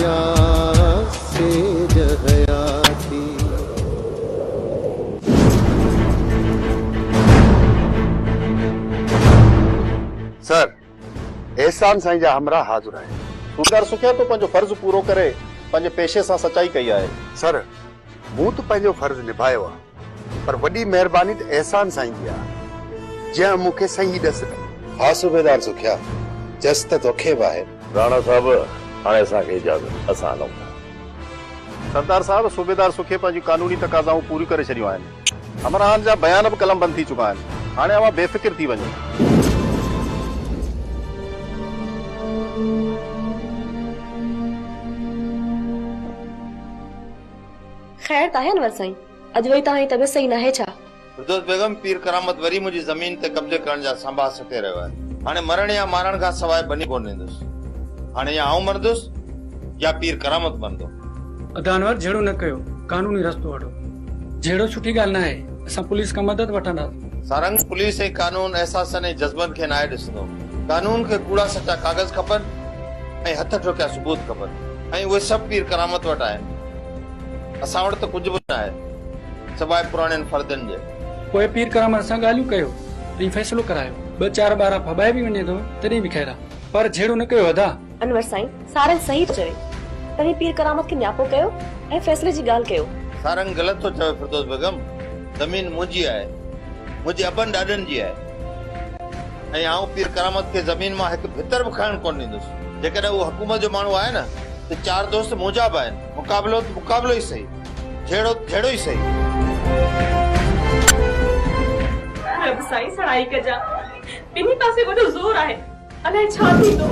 يا سيج حياتي. سر، احسان سائين جا همراهه حاضر آهن. ڪوڪار سکيا تو پنهنجو فرض پورو ڪري پنهنجي پيشي سان سچائي ڪئي آهي. سر، مون ته پنهنجو فرض نڀايو آهي. پر وڏي مهرباني ته احسان سائين جي آ، جنهن مون کي صحيح ڏس ڏني. ها صوبيدار سکيا، چيس ته توکي به آهي. راڻا صاحب، هاڻي اسان کي اجازت، اسان هلون ٿا. سردار صاحب، صوبيدار سکي پنهنجون قانوني تقاضائون پوريون ڪري ڇڏيون آهن. همراهن جا بيان به قلمبند ٿي چڪا آهن. هاڻي اوهان بي فڪر ٿي وڃو. خير ته آهيان ور سائين. اڄ وري توهان جي طبيعت صحيح ناهي ڇا؟ فردوس بيگم، پير ڪرامت وري منهنجي زمين تي قبضي ڪرڻ جا سانباها سٽي رهيو آهي. هاڻي مرڻ يا مارڻ کان سواء ڀڃي ڪونه ڏيندس. هاڻي يا آئون مرندس يا پير ڪرامت مرندو. ادا انور جهيڙو نه ڪيو. قانوني رستو وٺو. جهيڙو سٺي ڳالهه ناهي. اسان پوليس کان مدد وٺنداسين. سارنگ، پوليس ۽ قانون احساسن ۽ جذبن کي ناهي ڏسندو. قانون کي ڪوڙا سچا ڪاغذ کپن ۽ هٿ ٺوڪيا ثبوت کپن ۽ اهي سڀ پير ڪرامت وٽ آهن. اسان وٽ ته ڪجهه به ناهي سواء پراڻين فردين جي. پوء پير ڪرامت سان ڳالهيون ڪيو ۽ فيصلو ڪرايو. ٻه چار ٻارا ڦٻائي به وڃي ٿو تڏهن به خير آ. پر جهيڙو نه ڪيو ادا. انور سائين سارنگ صحيح ٿو چوي. توهين پير ڪرامت کي نياپو ڪيو ۽ فيصلي جي ڳالهه ڪيو. سارنگ غلط ٿو چوي فردوس بيگم زمين منهنجي آهي منهنجي ابن ڏاڏن جي آهي. ۽ آئون پير ڪرامت کي زمين مان هڪ ڀتر به کڻڻ ڪونه ڏيندس. جيڪڏهن اهو حڪومت جو ماڻهو آهي نه ته چار دوست منهنجا به آهن. مقابلو ته مقابلو ئي سهي. جهيڙو ته جهيڙو ئي سهي. رب سائين سڻائي ڪجان. ٻنهي پاسي وڏو زور آهي. الائي ڇا ٿيندو.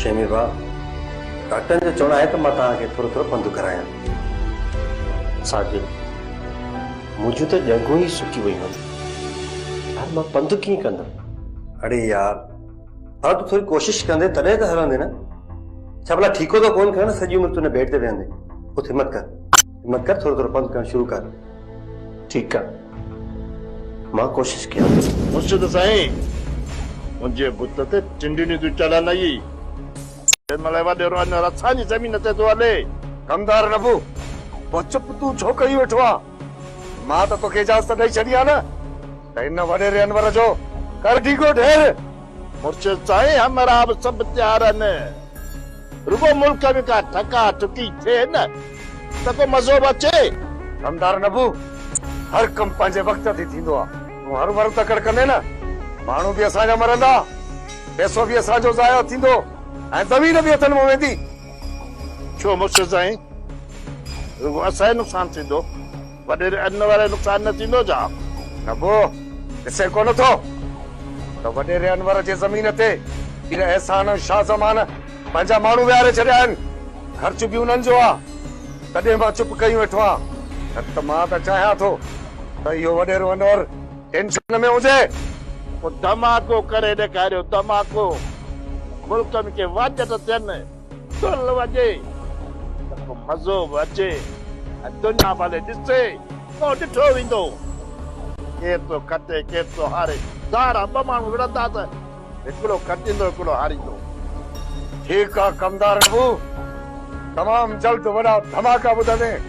شيمي ڀاء، ڊاڪٽرن جو چوڻ آهي ته مان توهان کي ٿورو ٿورو پنڌ ڪرايان. ساجد، منهنجون ته ڄنگهون ئي سڪي ويون آهن. هاڻي مان پنڌ ڪيئن ڪندم؟ اڙي يار ڀلا تون ٿوري ڪوشش ڪندي تڏهن ته هلندي نه ڇا ڀلا ٺيڪو ٿو ڪون کڻ سڄي عمر تون هن بيڊ تي ويهندي اٿ همت ڪر همت ڪر ٿورو ٿورو پنڌ ڪرڻ شروع ڪر ٺيڪ آ مان ڪوشش ڪيان ٿو مرشد سائين منهنجي بت تي ٽنڊيون ٿيون چڙهن اي تنهن مهل وڏيرو اڃا رساني زمين تي ٿو هلي ڪمدار نبو پوء چپ تون ڇو ڪري ويٺو آ مان ته توکي اجازت ڏئي ڇڏي آ نه ته هن وڏيري انور جو ڪر ڊيگهو ڍير. مرشد سائين همراهه به سڀ تيار آهن رڳو ملڪ ۾ ڪا ٺڪا ٺڪي ٿئي نه ته ڪو مزو به اچي. دمدار نبو هر ڪم پنهنجي وقت تي ٿيندو آ تون هر ور تڪڙ ڪندين نه ماڻهو به اسان جا مرندا پيسو به اسان جو ضايع ٿيندو ۽ زمين به هٿن مان ويندي. ڇو مرشد سائين! رڳو اسان ئي نقصان ٿيندو، وڏيري ان وارو ئي نقصان نه ٿيندو ڇا؟ نه پوء ڏسين ڪونه ٿو ته وڏيري انور جي زمين تي پير احسان ۽ شاهه زمان پنهنجا ماڻهو ويهاري ڇڏيا آهن، خرچ به انهن جو آهي، تڏهن مان چپ ڪيون ويٺو آهيان، نه ته مان ته چاهيان ٿو ته اهو وڏيرو انور. ٽينشن ۾ هجي پوء ڌماڪو ڪري ڏيکاريو ڌماڪو ملڪن کي واچٽ ٿين دل وڄي ته ڪو مزو به اچي ۽ دنيا ڀلي ڏسي پوء ڏٺو ويندو ڪير ٿو کٽي ڪير ٿو هاري ڌارا ٻه ماڻهو وڙهندا ته هڪڙو کٽيندو هڪڙو هاريندو. ٺيڪ آ ڪمدار ابو تمام جلد وڏا ڌماڪا ٻڌندين.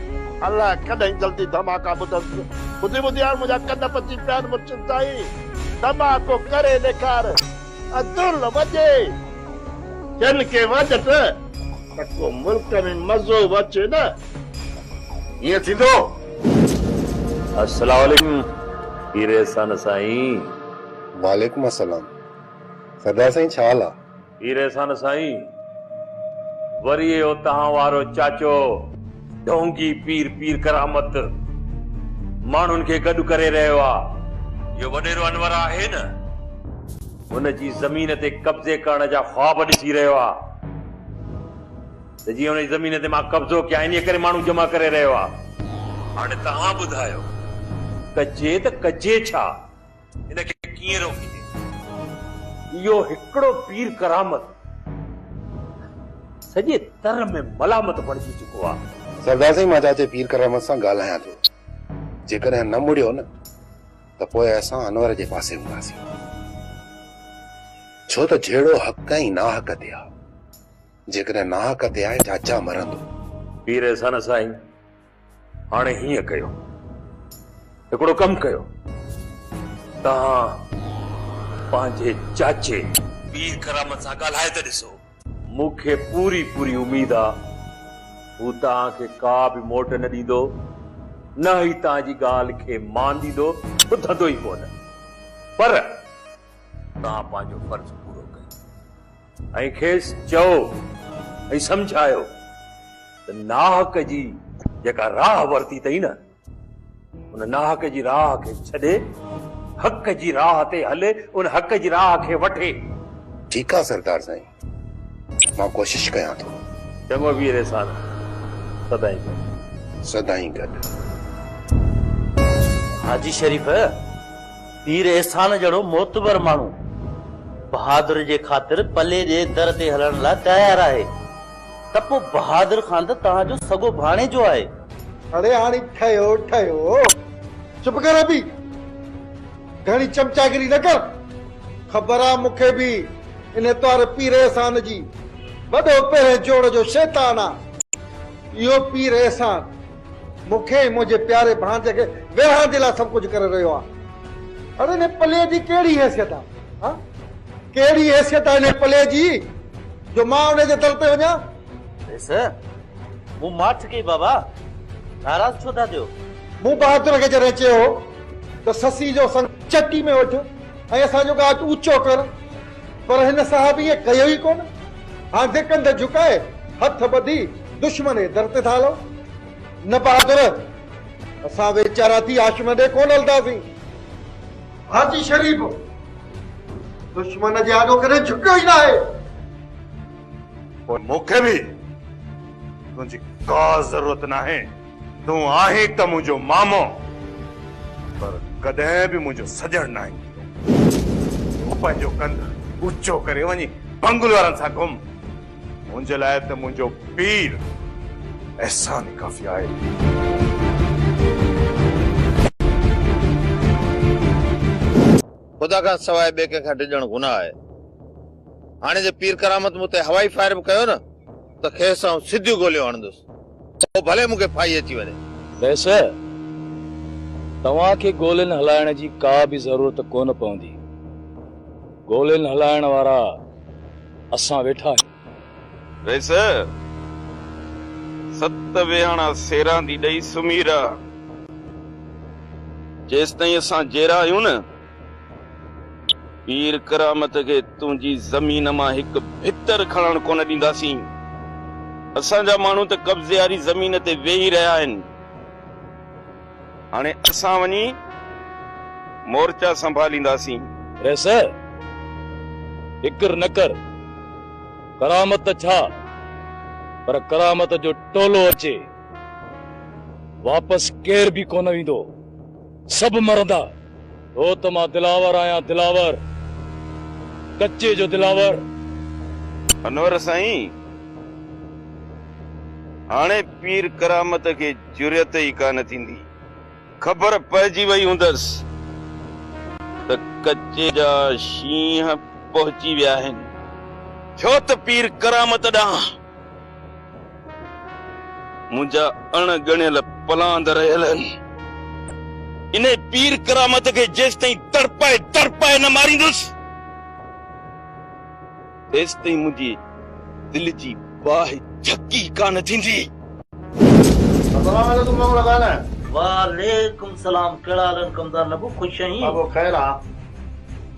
الا ڪڏهن جلدي ڌماڪا ٻڌنس ٻڌي ٻڌي هاڻ منهنجا ڪن پچي پيا آهن مرشد سائين ڌماڪو ڪري ڏيکار ۽ دل وڄي جن کي وڄ ته ته ڪو ملڪ ۾ مزو به اچي نه هيئن ٿيندو. السلام عليڪم پير احسان سائين. وعليڪم السلام سردار سائين ڇا حال آ. هير احسان سائين وري اهو توهان وارو چاچو ڍونگي پير پير ڪرامت ماڻهن کي گڏ ڪري رهيو آ اهو وڏيرو انور آهي نه هن جي زمين تي قبضي ڪرڻ جا خواب ڏسي رهيو آ ته جيئن هن جي زمين تي مان قبضو ڪيان انهي ڪري ماڻهو جمع ڪري رهيو آ هاڻي توهان ٻڌايو ڪجي ته ڪجي ڇا. ان کي ڪيئن روڪجي؟ اهو هڪڙو پير ڪرامت سڄي تر ۾ ملامت بڻجي چڪو آهي. سردار سائين مان چاچي پير ڪرامت سان ڳالهايان ٿو. جيڪڏهن نه مڙيو نه ته پوء اسان انور جي پاسي هونداسين. ڇو ته جهيڙو حق ۽ ناحق تي آهي. جيڪڏهن ناحق تي آهي چاچا مرندو. پير احسان سائين هاڻي هيئن ڪيو هڪڙو ڪم ڪيو توهان پنهنجي چاچي پير ڪرامت سان ڳالهائي ته ڏسو. مون کي پوري پوري اميد آ هو توهان کي ڪا به موٽ نه ڏيندو نه ئي توهان جي ڳالهه کي مان ڏيندو ٻڌندو ئي ڪونه پر توهان پنهنجو فرض پورو ڪيو ۽ کيس چئو ۽ سمجهايو ته ناحق جي جيڪا راهه ورتي اٿئي نه، ان ناحق جي راهه کي ڇڏي، حق جي راهه تي هلي، ان حق جي راهه کي وٺي. ٺيڪ آ سردار سائين، مان ڪوشش ڪيان ٿو. چڱو وير احسان، سدائين گڏ. سدائين گڏ. حاجي شريف! پير احسان جهڙو معتبر ماڻهو بهادر جي خاطر پلي جي در تي هلڻ لاء تيار آهي ته پوء بهادر خان ته توهان جو سڳو ڀاڻيجو آهي. اڙي هاڻي ٺهيو ٺهيو. چپ ڪر ابي. گهڻي چمچاگري نه ڪر. خبر آ مون کي به ان اتوار پير احسان جي. وڏو پهرين جوڙ جو شيطان آ اهو پير احسان. مون کي ۽ منهنجي پياري ڀاڻجي کي ورهائڻ جي لاء سڀ ڪجهه ڪري رهيو آهي. پر انهيء پليء جي ڪهڙي حيثيت آهي؟ ها؟ ڪهڙي حيثيت آهي انهيء پليء جي جو مان انهيء جي در تي وڃان؟ بيس، مون ماٺ ڪئي بابا، ناراض ڇو ٿا ٿيو؟ مون بهادر کي جڏهن چيو هو ته سسي جو سڱ چٽي ۾ وٺ ۽ اسان جو ڳاچ اوچو ڪر. پر هن صاحب ائين ڪيو ئي ڪونه، آنڌي ڪنڌ جهڪائي، هٿ ٻڌي دشمن جي در تي ٿا هلون. نه بهادر، اسان ويچارا ٿي آشمي ڏي ڪونه هلنداسين. حاجي شريف، دشمن جي آڏو ڪڏهن جهڪيو ئي ناهي. پوء مون کي به تنهنجي ڪا ضرورت ناهي. تون آهين ته منهنجو مامو پر ڪڏهن به منهنجو سڄڻ ناهين ٿيندو. تون پنهنجو ڪنڌ اوچو ڪري وڃي بنگلو وارن سان گهم. منهنجي لاء ته منهنجو پير احسان ئي ڪافي آهي. خدا کان سواء ٻئي ڪنهن کان ڊڄڻ گناهه آهي. هاڻي جي پير ڪرامت مون تي هوائي فائر به ڪيو نه. ته کيس آئون سڌيون گوليون هڻندس، پوء ڀلي مون کي ڦاهي اچي وڃي. بيس، توهان کي گولين هلائڻ جي ڪا به ضرورت ڪونه پوندي. گولين هلائڻ وارا اسان ويٺا آهيون. بيس، ست ويهاڻا سيراندي ڏئي سمهي رهه، جيستائين اسان جيئرا آهيون نه، پير ڪرامت کي تنهنجي زمين مان هڪ ڀتر کڻڻ ڪونه ڏينداسين. اسان جا ماڻهو ته قبضي واري زمين تي ويهي رهيا آهن. هاڻي اسان وڃي مورچا سنڀالينداسين. رئيس! فڪر نه ڪر. ڪرامت ته ڇا، پر ڪرامت جو ٽولو اچي، واپس ڪير به ڪونه ويندو. سڀ مرندا هو ته مان دلاور آهيان دلاور ڪچي جو دلاور. انور سائين هاڻي پير ڪرامت کي جرئت ئي ڪانه ٿيندي. خبر پئجي وئي هوندس ته ڪچي جا شينهن پهچي ويا آهن ڇو ته پير ڪرامت ڏانهن. منهنجا اڻ ڳڻيل پلاند رهيل آهن. انهيء پير ڪرامت کي جيستائين تڙپائي تڙپائي نه ماريندس، تيستائين منهنجي دل جي باهه جهڪي ڪانه ٿيندي. السلام عليڪم مامو لڳا نه. وعليڪم السلام ڪهڙا حال آهن ڪمدار نبو خوش آهين. بابو خير آ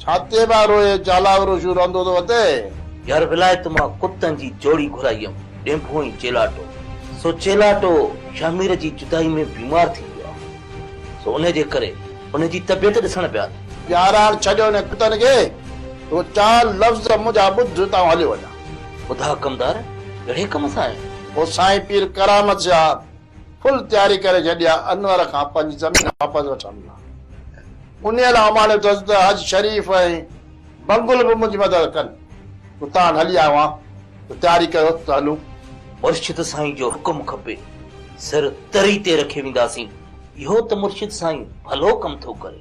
ڇا تي به روئي چالاء وروشو رهندو تو هتي. يار ولايت مان ڪتن جي جوڙي گهرائي هيم ڏينڀو ۽ چيلاٽو سو چيلاٽو شهمير جي جدائي ۾ بيمار ٿي ويو آ سو ان جي ڪري ان جي طبيعت ڏسڻ پيا آيا. يار هاڻ ڇڏيو انهن ڪتن کي سو چار لفظ منهنجا ٻڌ ته آئون هليو وڃان. ٻڌاء ڪمدار ڪهڙي ڪم سان آيو؟ پوء سائين پير ڪرامت شاهه فل تياري ڪري ڇڏي آ انور کان پنهنجي زمين واپس وٺڻ لاء. انهيء لاء اماڻيو اٿس ته حج شريف ۽ بنگل به منهنجي مدد ڪن. اتان هلي آيو آهيان ته تياري ڪريو ته هلون. مرشد سائين جو حڪم کپي، سر تري تي رکي وينداسين. اهو ته مرشد سائين ڀلو ڪم ٿو ڪري.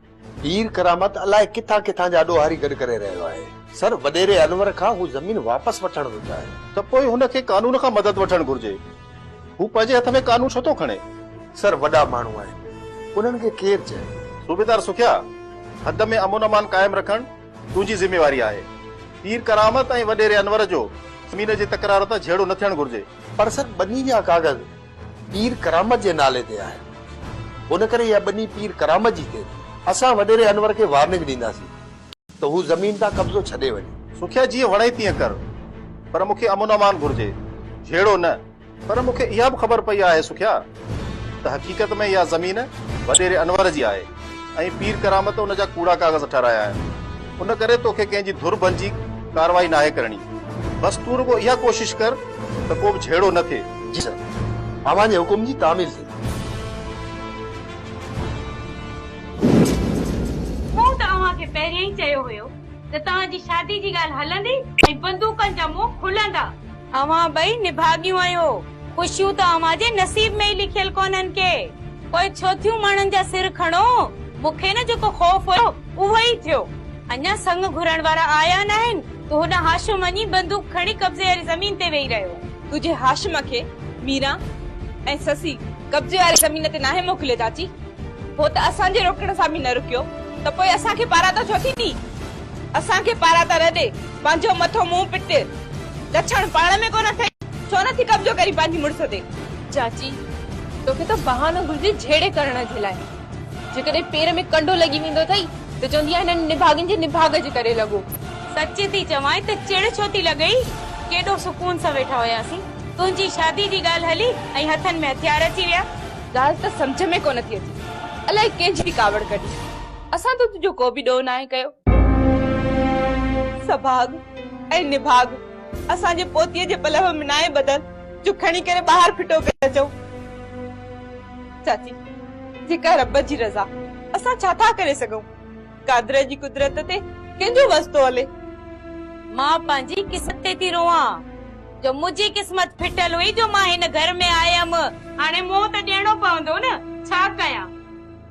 پير ڪرامت الائي ڪٿان ڪٿان جا ڏوهاري گڏ ڪري رهيو آهي. سر، وڏيري انور کان هو زمين واپس وٺڻ ويو آهي. ته پوء هن کي قانون کان مدد وٺڻ گهرجي. هو پنهنجي هٿ ۾ قانون ڇو ٿو کڻي؟ سر، وڏا ماڻهو آهن. انهن کي ڪير چئي؟ صوبيدار سکيا، حد ۾ امن امان قائم رکڻ تنهنجي ذميواري آهي. پير ڪرامت ۽ وڏيري انور جو زمين جي تڪرار تان جهيڙو نه ٿيڻ گهرجي. پر سر، ٻني جا ڪاغذ. پير ڪرامت جي نالي تي آهي. ان ڪري اها ٻني پير ڪرامت جي ٿئي ٿي. اسان وڏيري انور کي وارننگ ڏينداسين ته هو زمين تان قبضو ڇڏي وڃي. سکيا جيئن وڻئي تيئن ڪر. پر مون کي امن امان گهرجي. جهيڙو نه. پر مون کي اها به خبر پئي آهي سکيا ته حقيقت ۾ اها زمين وڏيري انور جي آهي. ۽ پير ڪرامت ان جا ڪوڙا ڪاغذ ٺهرايا آهن. ان ڪري توکي ڪنهن جي ڌر بنجي ڪارروائي ناهي ڪرڻي. بس تون رڳو اها ڪوشش ڪر ته ڪو به جهيڙو نه ٿئي. جي سر. اوهان جي حڪم جي تعميل ٿئي. مون ته اوهان کي پهريان ئي چيو هيو ته توهان جي شادي جي ڳالهه هلندي ۽ بندوقن جا منهن کلندا. اوهان ٻئي نڀاڳيون آهيو، خوشيون ته اوهان جي نصيب ۾ ئي لکيل ڪونهن ڪي. پوء ڇو ٿيون ماڻهن جا سر کڻو؟ مون کي نه جيڪو خوف هيو، اهو ئي ٿيو. اڃا سڱ گهرڻ وارا آيا ناهن، ته هن هاشم وڃي بندوق کڻي قبضي واري زمين تي ويهي رهيو. تنهنجي هاشم کي ميران ۽ سسي قبضي واري زمين تي ناهي موڪليو چاچي. هو ته اسان جي روڪڻ سان به نه رڪيو، ته پوء اسان کي پاراتا ڇو ٿي ڏئي؟ اسان کي پارا ٿا رڏي، پنهنجو مٿو مون پٽ، لڇڻ پاڻ ۾ ڪونه اٿئي، ڇو نه ٿي قبضو ڪرين پنهنجي مڙس تي. چاچي، توکي ته بهانو گهرجي جهيڙي ڪرڻ جي لاء، جيڪڏهن پير ۾ ڪنڊو لڳي ويندو اٿئي ته چوندينء هنن نڀاڳين جي نڀاڳ جي ڪري لڳو. سچ ٿي چوانء ته چڙ ڇو ٿي لڳئي، ڪيڏو سڪون سان ويٺا هياسين، تنهنجي شادي جي ڳالهه هلي ۽ هٿن ۾ هٿيار اچي ويا. ڳالهه ته سمجهه ۾ ڪونه ٿي اچي، الائي ڪنهن جي ٿي ڪاوڙ ڪڍي. اسان ته تنهنجو ڪو به ڏوهه ناهي ڪيو. سڀاڳ ۽ نڀاڳ اسان جي پوتيء جي پلئه ۾ ناهي ٻڌل جو کڻي ڪري ٻاهر ڦٽو ڪري اچئون. چاچي، جيڪا رب جي رضا، اسان ڇا ٿا ڪري سگهون؟ قادر جي قدرت تي ڪنهن جو وس ٿو هلي؟ مان پنهنجي قسط تي ٿي روئان جو منهنجي قسمت ڦٽل هئي جو مان هن گهر ۾ آيم. هاڻي منهن ته ڏيڻو پوندو نه، ڇا ڪيان؟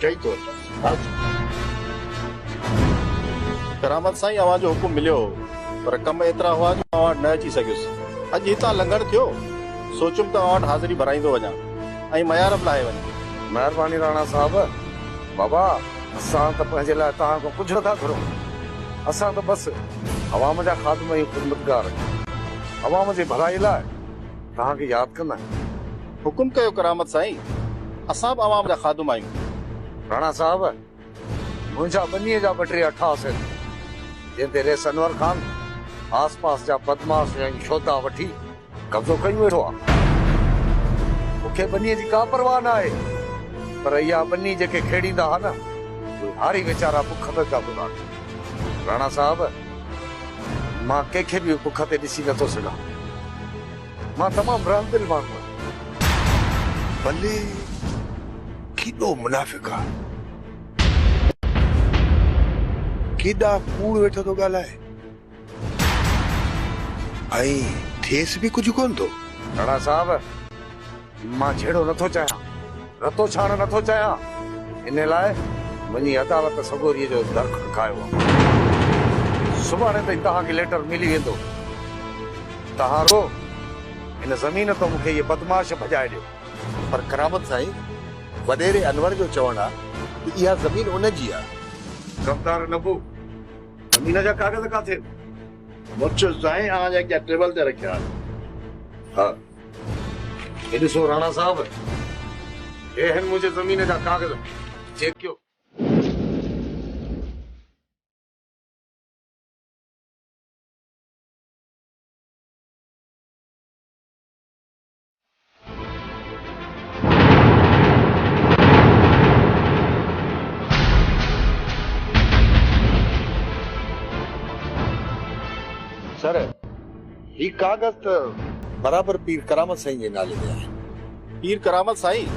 چئي ٿو اچ. ڪرامت سائين اوهان جو حڪم مليو هو پر ڪم ايترا هئا جو اوهان وٽ نه اچي سگهيس. اڄ هتان لنگهڻ ٿيو سوچيم ته اوهان وٽ حاضري ڀرائيندو وڃان ۽ ميار به لاهي وڃان. مهرباني راڻا صاحب. بابا اسان ته پنهنجي لاء توهان کان ڪجهه نٿا گهرون. اسان ته بس عوام جا خادم ۽ خدمتگار آهيون. عوام جي ڀلائي لاء توهان کي ياد ڪندا آهيون. حڪم ڪيو ڪرامت سائين، اسان به عوام جا خادم آهيون. راڻا صاحب، منهنجا ٻنيء جا ٻه ٽي اٺاس آهن، جن تي ريس انور خان آس پاس جا بدمعاش ۽ شهدا وٺي قبضو ڪيون ويٺو آ. مون کي ٻنيء جي ڪا پرواهه نه آهي، پر اها ٻني جيڪي کيڙيندا ها نه، اهي هاري ويچارا بک به پيا گذارن. راڻا صاحب، مان ڪنهن کي به بک تي ڏسي نه ٿو سگهان. مان تمام رحم دل ماڻهو آهيان. بلي ڪيڏو منافق آ. ڪيڏا ڪوڙ ويٺو ٿو ڳالهائي. ۽ ٿيس به ڪجهه ڪونه ٿو. راڻا صاحب! مان جهيڙو نه ٿو چاهيان، رتو ڇاڻ نه ٿو چاهيان، ان لاء وڃي عدالت سڳوريء جو در کڙڪايو آهي. سڀاڻي تائين توهان کي ليٽر ملي ويندو. توهان رڳو هن زمين تان مون کي اهي بدمعاش ڀڄائي ڏيو. پر ڪرامت سائين، وڏيري انور جو چوڻ آهي ته اها زمين ان جي آهي. ڪردار نبو، زمين جا ڪاغذ ڪاٿي؟ مٺيو سائين، اوهان جا اڳيان ٽيبل تي رکيا آهن. ها. هي ڏسو راڻا صاحب، هي آهن منهنجي زمين جا ڪاغذ، جيڪو. سر! هي ڪاغذ ته برابر پير ڪرامت سائين جي نالي تي آهي. پير ڪرامت سائين!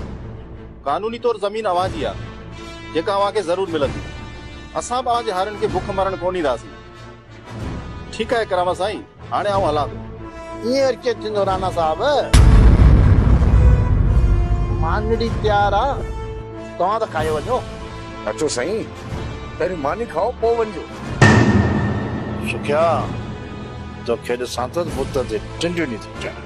قانوني طور زمين اوهان جي آ، جيڪا اوهان کي ضرور ملندي. اسان به اوهان جي هارين کي بک مرڻ ڪونه ڏينداسين. ٺيڪ آهي ڪرامت سائين، هاڻي آئون هلان ٿو. ائين وري ڪيئن ٿيندو رانا صاحب؟ مانڏڙي تيار آ، توهان ته کائي وڃو. اچو سائين. پهريون ماني کائو پوء وڃجو. سکيا توکي ڏسان ٿو ته بت تي ٽنڊيون ڏينهن ٿيون چڙهن.